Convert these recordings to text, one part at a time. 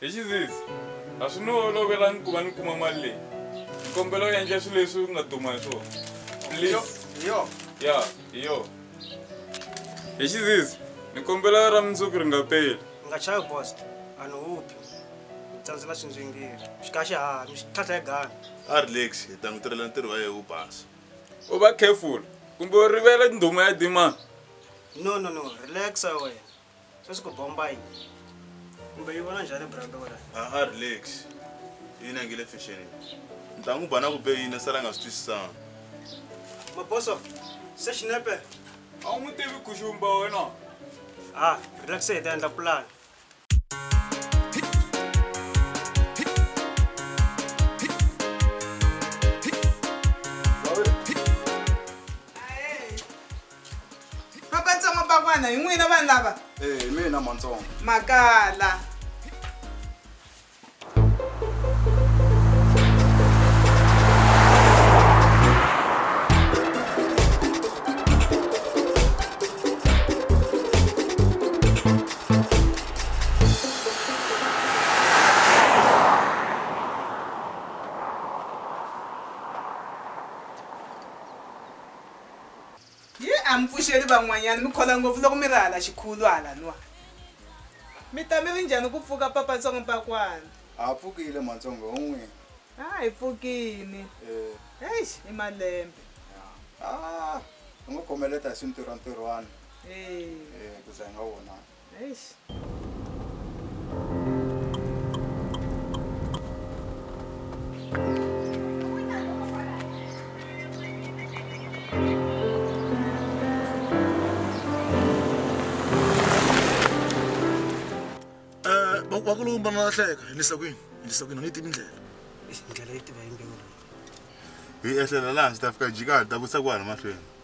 hi xizizi a swi ni olovelangi ku va ni kuma mali leyi nkombelo ya endla swilo leswi nga duma hi swona please yo ya hi yo hi xizizi ni kombela ra mundzuku ri nga peli u nga chavi boss a ni huphi ni tsandze na swindzingiri xikaxi ha mi xi tlhatlha hi gana a relax hi ta n'wi tirhela ntirho wa yehe wu basa u va careful kumbe u rivele ndhuma ya demand no no no relaxa wena sweswi ku bomba yi kumbe yi vona njhani brando wena aha relax yini angile fashion ntlangu ba na ku be yini sala nga swi twisisanga maboso se xinepe a wu n'wi tivi guxumba wena ha relax hi ta endla pulani mapantsongo bakwana hi n'wina vanhu lava ee hi mina mantsongo makala Hi a mi pfuxeli van'wanyana, mi khola ngopfu loko mi ri hala xikhulu hala nwa. Mi ta mi ri njhani ku pfuka Papa Ntsongo Mpakwana? Ha pfukile Matsongo ho n'wina. Ha hi pfukini. Eish i malembe. Haa, hi ngo khomeleta hi swi ntirhwantirhwana ku za hi nga vonani. Nice. Eh, wa- wa ku lowu mbana na hleka endlisa kwini endlisa kwini a ni tivi ndlela ndlela yi tiva hi mbewu leyi hi ehlela laha ndzi ta fika jikani ta vutisa ku hana mahlweni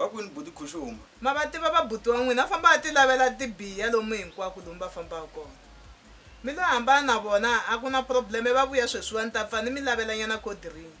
Va kwini buti Khuxuma? Ma va tiva va buti wa n'wina? Va famba va tilavela tibiya lomu hinkwako lomu va fambaka kona. Mi lo hambana na vona, a ku na problem, va vuya sweswiwa ni ta pfa ni mi lavelanyana cold drink.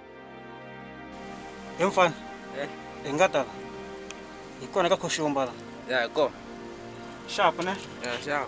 he mfana Eh. hi nga ta la hi kona ka khoxomba la ya hi kona xapu ne ya xava